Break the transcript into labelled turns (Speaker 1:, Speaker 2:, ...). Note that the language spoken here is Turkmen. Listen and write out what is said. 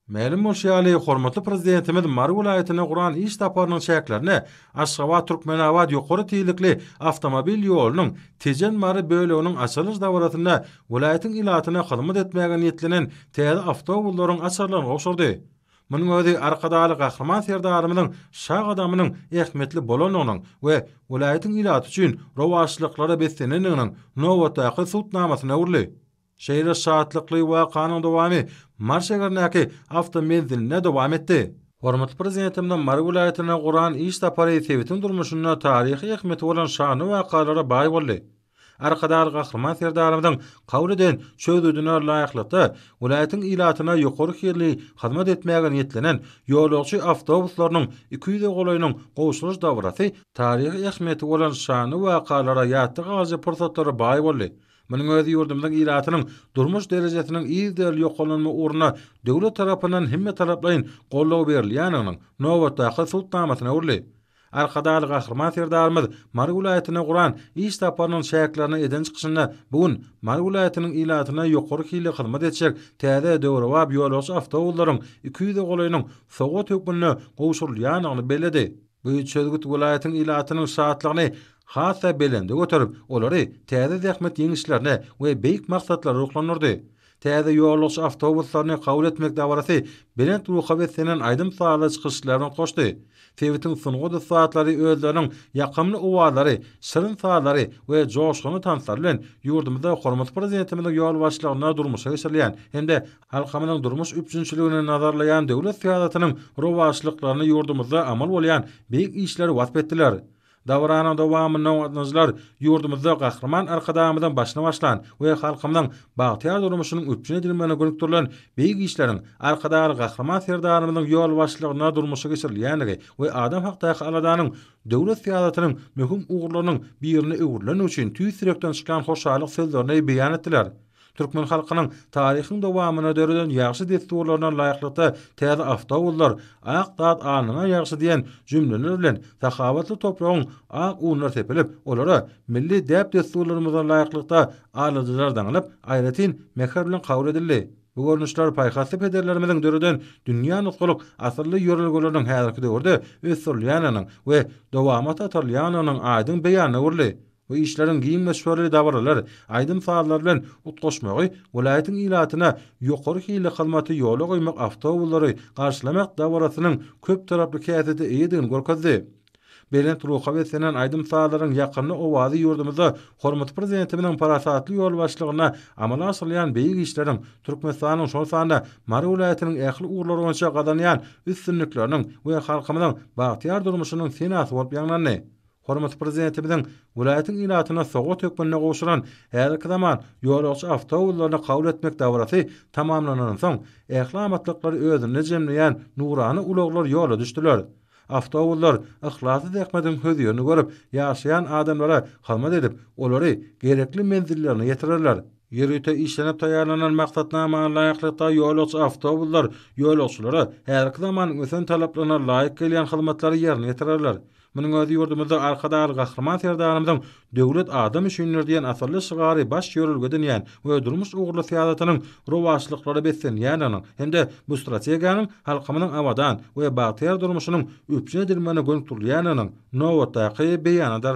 Speaker 1: Mälim bolşy ýaly, hormatly Prezidentimiz Mary welaýatyna guran iş saparynyň çäklerinde Aşgabat, Türkmenabat ýokary tizlikli awtomobil ýolunyň Tejen, Mary böleginiň açylyş dabarasynda welaýatyň ilatyna hyzmat etmäge niýetlenen täze awtobuslaryň açarlaryny gowşurdy. Munuň özi Arkadagly Gahryman Serdarymyzyň şa gadamynyň ähmiýetli bolandygynyň we welaýatyň ilaty üçin rowaçlyklara beslenendiginiň nobatdaky subutnamasyna öwrüldi. Şeýle şatlykly wakanyň dowamy Mary şäherindäki awtomenzilinde dowam etdi. Hormatly Prezidentimiziň Mary welaýatyna guran iş sapary sebitiň durmuşynda taryhy ähmiýeti bolan şanly wakalara baý boldy. Arkadag Gahryman Serdarymyzyň kabul eden çözgüdine laýyklykda, welaýatyň ilatyna ýokary hilli hyzmat etmäge niýetlenen ýolagçy awtobuslarynyň iki ýüze golaýynyň gowşuryş dabarasy taryhy ähmiýeti bolan şanly wakalara ýatda galyjy pursatlara baý boldy. Munuň özi ýurdumyzyň ilatynyň durmuş derejesiniň yzygiderli ýokarlanma ugruna döwlet tarapyndan hemmetaraplaýyn goldaw berilýändiginiň nobatdaky subutnamasyna öwrüldi. Arkadagly Gahryman Serdarymyz Mary welaýatyna guran iş saparynyň çäklerinde eden çykyşynda bu gün Mary welaýatynyň ilatyna ýokary hilli hyzmat etjek täze döwrebap ýolagçy awtobuslaryň iki ýüze golaýynyň sowgat hökmünde gowşurylýandygyny belledi. Bu çözgüt welaýatyň ilatynyň şatlygyny has-da belende göterip, olary täze zähmet ýeňişlerine we beýik maksatlara ruhlandyrdy. Täze ýolagçy awtobuslaryny kabul etmek dabarasy belent ruha beslenen aýdym-sazly çykyşlar bilen hoşdy. Sebitiň sungat ussatlary özleriniň ýakymly owazlary, şirin sazlary we joşgunly tanslary bilen ýurdumyzda Hormatly Prezidentimiziň ýolbaşçylygynda durmuşa geçirilýän hem-de Halkymyzyň durmuş üpjünçiligini nazarlaýan döwlet syýasatynyň rowaçlyklaryny ýurdumyzda amal bolýan beýik işleri wasp etdiler. Dabaranyň dowamynda gatnaşyjylar ýurdumyzda Gahryman Arkadagymyzyň başyny başlan we halkymyzyň bagtyýar durmuşynyň üpjün edilmegine gönükdirilen beýik işleriň Arkadagly Gahryman Serdarymyzyň ýolbaşçylygynda durmuşa geçirilýändigi we adam hakdaky aladanyň döwlet syýasatynyň möhüm ugurlarynyň birine öwrülenligi üçin tüýs ýürekden çykýan hoşallyk sözlerini beýan etdiler. Türkmen halkynyň taryhyň dowamynda döreden ýagşy dessurlaryna laýyklykda täze awtobuslar, Ak zat alnyňa ýagşy diýen jümleler bilen sahawatly topragyň ak unlary sepilip, olara milli däp-dessurlarymyza laýyklykda alyjylar daňylyp, aýratyn mähir bilen kabul edildi. Bu görnüşler paýhasly pederlerimiziň döreden dünýä nusgalyk asylly ýörelgeleriniň häzirki döwürde ösdürilýändiginiň we dowamata atarylýandygynyň aýdyň beýanyna öwrüldi. Bu işleriň giň möçberli dabaralar, aýdym-sazlar bilen utgaşmagy welaýatyň ilatyna ýokary hilli hyzmaty ýola goýmak awtobuslary garşylamak dabarasynyň köptaraply häsiýete eýedigini görkezdi. Belent ruha beslenen aýdym-sazlaryň ýakymly owazy ýurdumyzda hormatly Prezidentimiziň parasatly ýolbaşçylygynda amala aşyrylýan beýik işleriň, Türkmenistanyň, şol sanda Mary welaýatynyň ähli ugurlar boýunça gazanýan üstünlikleriniň we halkymyzyň bagtyýar durmuşynyň senasy bolup ýaňlandy. Hormatly Prezidentimiziň welaýatyň ilatyna sowgat hökmünde gowşuran häzirki zaman ýolagçy awtobuslaryny kabul etmek dabarasy tamamlanansoň, ähli amatlyklary özünde jemleýän nurana ulaglar ýola düşdüler. Awtobuslar yhlasly zähmetiň hözirini görüp, ýaşaýan adamlara hyzmat edip, olary gerekli menzillerine ýetirerler. Ýörite işlenip taýýarlanan maksatnama laýyklykda ýolagçy awtobuslar ýolagçylara häzirki zamanyň ösen talaplaryna laýyk gelýän hyzmatlary ýerine ýetirerler. Munuň özi ýurdumyzda Arkadagly Gahryman Serdarymyzyň Döwlet adam üçindir! diýen asylly şygary baş ýörelge edinýän we durmuş ugurly syýasatynyň rowaçlyklara beslenýändiginiň hem-de bu strategiýanyň halkymyzyň abadan we bagtyýar durmuşynyň üpjün edilmegine gönükdirilýändiginiň nobatdaky beýanydyr.